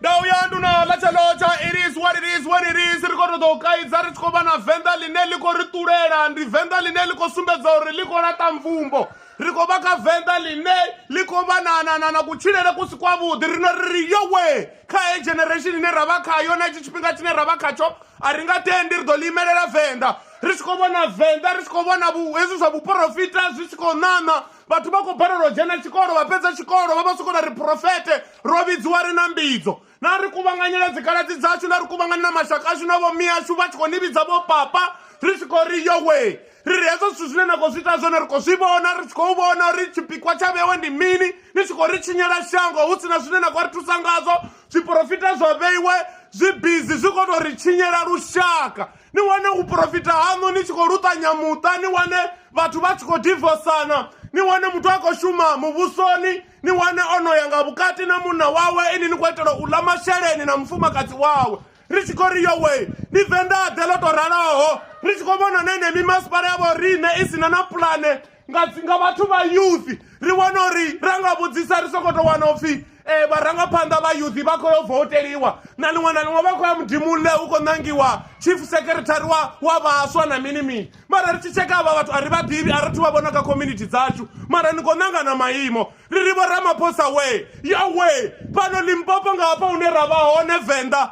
ndau yandu na lachelotha it is what it is when it is ri khou ṱoḓa u kaidza ri tshi khou vha na venḓa ḽine ḽi khou ri ṱulela ndi venḓa ḽine ḽi khou sumbedza uri ḽi khou laṱa mvumbo ri khou vha kha venḓa ḽine ḽi khou vha na kutshilele ku si kwavhuḓi rino ri ri yowe kha he generation ine ra vha khayo na itshi tshifhinga tshine ra vha khatsho a ri nga tendi ri ḓo ḽi imelela venḓa ri tshi khou vhona venḓa ri tshi khou vhona hezwi zwa vhuporofita zwi tshi khou ṋaṋa vhathu vha khou balelwa u dzhena tshikolo vha fhedza tshikolo vha vha soko na ri profete ro vhidziwa ri na mbidzo na ri kuvhanganyela dzikaladzi dzashu na ri kuvhanganyela mashaka ashu na vhomi ashu vha tshi khou ni vhidza vho papa ri tshi khou ri yowe ri ri hezwo zwithu zwine na khou zwi ita zwone ri khou zwi vhona ri tshi khou vhona uri tshipikwa tsha vhewe ndi mini ni tshi khou ri tshinyela shango hu sina zwine na khou ri thusa ngazwo zwiporofita zwa vheiwe zwi bizi zwi khou tou ri tshinyela lushaka ni wane u profita haṋu ni tshi khou luṱanya muṱa ni wane vhathu vha tshi khou divosana ni wane muthu a khou shuma muvhusoni ni wane o no ya nga vhukati na munna wawe ini ni khou itela u ḽa masheleni na mufumakadzi wawe ri tshi khou ri yowe ni venḓaḓe ḽo tou raloho ri tshi khou vhona na ine mimasipala ya vho riṋe i si na na pulane nga nga vhathu vha youth ri wana uri ra nga vhudzisa ri sokoto wana upfhi um eh, vharangaphanḓa vha youth vha khou yo voteliwa na liṅwe na liṅwe vha khou ya mudimulle hu khou ṋangiwa chief secretary wa wa vhaswa na mini mini mara ri tshi tsheka avha vhathu a ri vha ḓivhi a ri thu vha vhona kha community dzashu mara ni khou ṋanga na maimo ri ri vho ramaphosa we ya we fhano limpopo nga hafha hune ra vha hone venḓa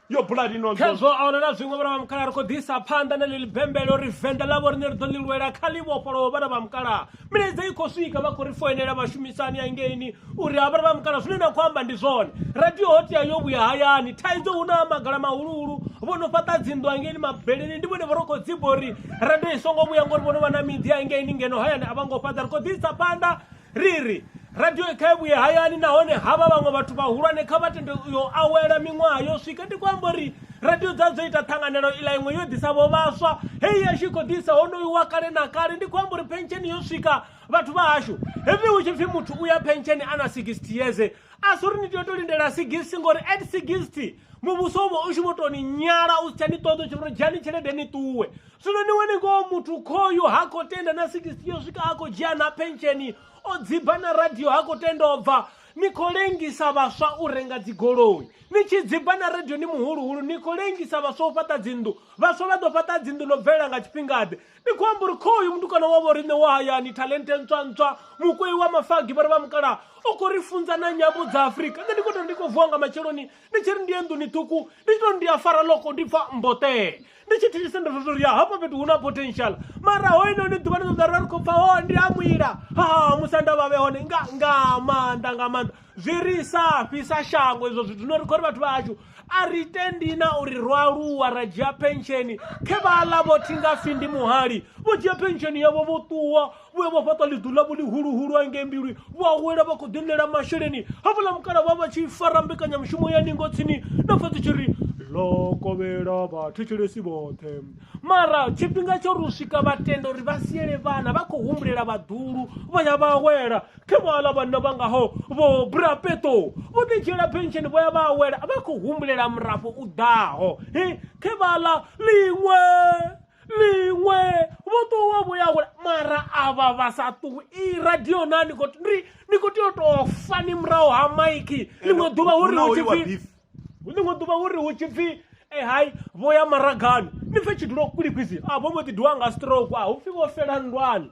yo bula lino khezwo a huna na zwiṅwe vhana vha mukalaha ri khou ḓisa phanḓa na ḽili bembelo ri venḓa ḽa vhoriṋe ri ḓo ḽi lwela kha ḽi vhofholowo vhana vha mukalaha milaedza i khou swika vha khou ri foinela vhashumisani ya ngeini uri ha vhana vha mukalaha zwine na khou amba ndi zwone radio ho tea yo vhuya hayani thaidzo hu na magala mahuluhulu vho no fhaṱa dzinḓu angeini mabeleni ndi vhone vho ro khou dziba uri radio i songo vhuya ngori vho no vha na miḓi ya ngeini ngeno hayani a vha ngo fhaṱa ri khou ḓisa phanḓa Ri ri, Radioi kha i vhuye hayani nahone havha vhaṅwe vhathu vhahulwane kha vha tende uyo awela miṅwaha yo swika. Ndi khou amba uri radio dza dzo ita ṱhanganelo iḽa iṅwe yo ḓisa vho vhaswa heyi ya tshi khou ḓisa honoyu wa kale na kale ndi khou amba uri pensheni yo swika vhathu vha hashu hepfi hu tshi pfhi muthu u ya pensheni a na 60 years a si uri ni tea u to lindela 60 ngori at 60 muvhuso u vha u tshi vho tou ni nyala u si tsha ni ṱoḓa u tshi vho dzhiani tshelede ni ṱuwe zwino ni wane ngoho muthu khoyu ha khou tenda na 60 yo swika a khou dzhia na pensheni o dziba na radio ha khou tenda u bva ni khou lengisa vhaswa u renga dzigoloi ni tshi dziba na radio ni muhuluhulu ni khou lengisa vhaswa u fhaṱa dzinnḓu vhaswa vha ḓo fhaṱa dzinnḓu ḽo bvelela nga tshifhingaḓe ni khou amba uri khoyu mutukana wa vho riṋe wa hayani talente ntswa ntswa mukwei wa mafagi vha ri vha mukala u khou ri funza na nyambo dza afurika nṋe ndi khou tou ndi khou vuwa nga matsheloni ndi tshi ri ndi ye nḓuni ṱhukhu ndi to ndi a fara loko ndi pfa mbotee ndi tshi thithise ndo tou ri hafha fhethu hu na potential mara ho ino ni ḓuvha ni ṱoḓa ri khou pfa ho ndi a mwila ha musi anda vhavhe hone nga nga maanḓa nga maanḓa zwi ri sa fhisa shango izwo zwithu no ri khou ri vhathu vha hashu a ri tendi na uri ro aluwa ra dzhia pensheni khe vha ḽa vho thi nga si ndi muhali vho dzhia pensheni yavho vho ṱuwa vhuya vha fhaṱa ḽiḓu ḽavho ḽihuluhulu angei mbilwi vha awela vha khou ḓiṋela masheleni hafhaḽa mukala vha vha tshi fara mbekanyamushumo ya ningo tsini na pfha dzi tshi ri ḽo kovhela vhathetshelesi vhoṱhe mara tshifhinga tsho ri u swika vha tenda uri vha siele vhana vha khou humbulela vhaḓulu vha ya vha awela khe vhaḽa vhanna vha ngaho vho brapeto vho ḓi dzhiela pensheni vho ya vha awela vha khou humbulela murafho u ḓaho he khe vhaḽa ḽiṅwe miṅwe vho ṱuwa vho ya kule mara avha vha sa ṱuwi i radio na ni khou ndi ni khou tea u tou fa ni murahu ha maiki ḽiṅwe ḓuvha uri hu tshipfi ḽiṅwe ḓuvha uri hu tshipfi e eh, hai vho ya maragani ni pfhe tshidulo kulikwisi a ah, vho mbo ḓi diwa nga stroke a ah, hu pfhi vho fela nndwani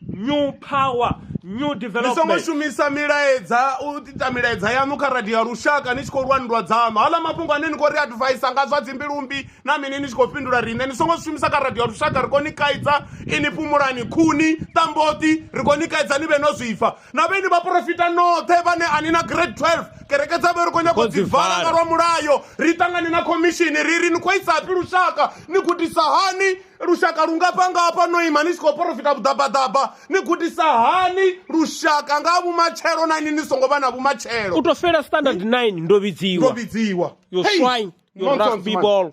New Power, New Development. Ni songo shumisa milaedza u ita milaedza yaṋu kha radio ya lushaka ni tshi khou lwa nndwa dzaṋu. Haaḽa mafhungo ane ni khou ri advaisa nga zwa dzimbilumbi na mini ni tshi khou fhindula riṋe ni songo zwi shumisa kha radio ya lushaka ri khou ni kaidza ini fhumulani khuni ṱamboṱi ri khou ni kaidza ni vhe no zwipfa na vhe ni vhaporofita noṱhe vhane ani na grade 12 kereke dza vhe ri khou nyako dzi vala nga lwa mulayo ri ṱangane na khomishini ri ri ni khou isafhi lushaka ni gudisa hani lushaka lu nga panga hafha no ima ni tshi khou porofita vhuḓabaḓaba ni gudisa hani lushaka nga vhumatshelo na ini ni songo vha na vhumatshelo u to fela standard 9 ndo ndo vhidziwa vhidziwa yo Hey! swine yo Nonsense, rugby man. ball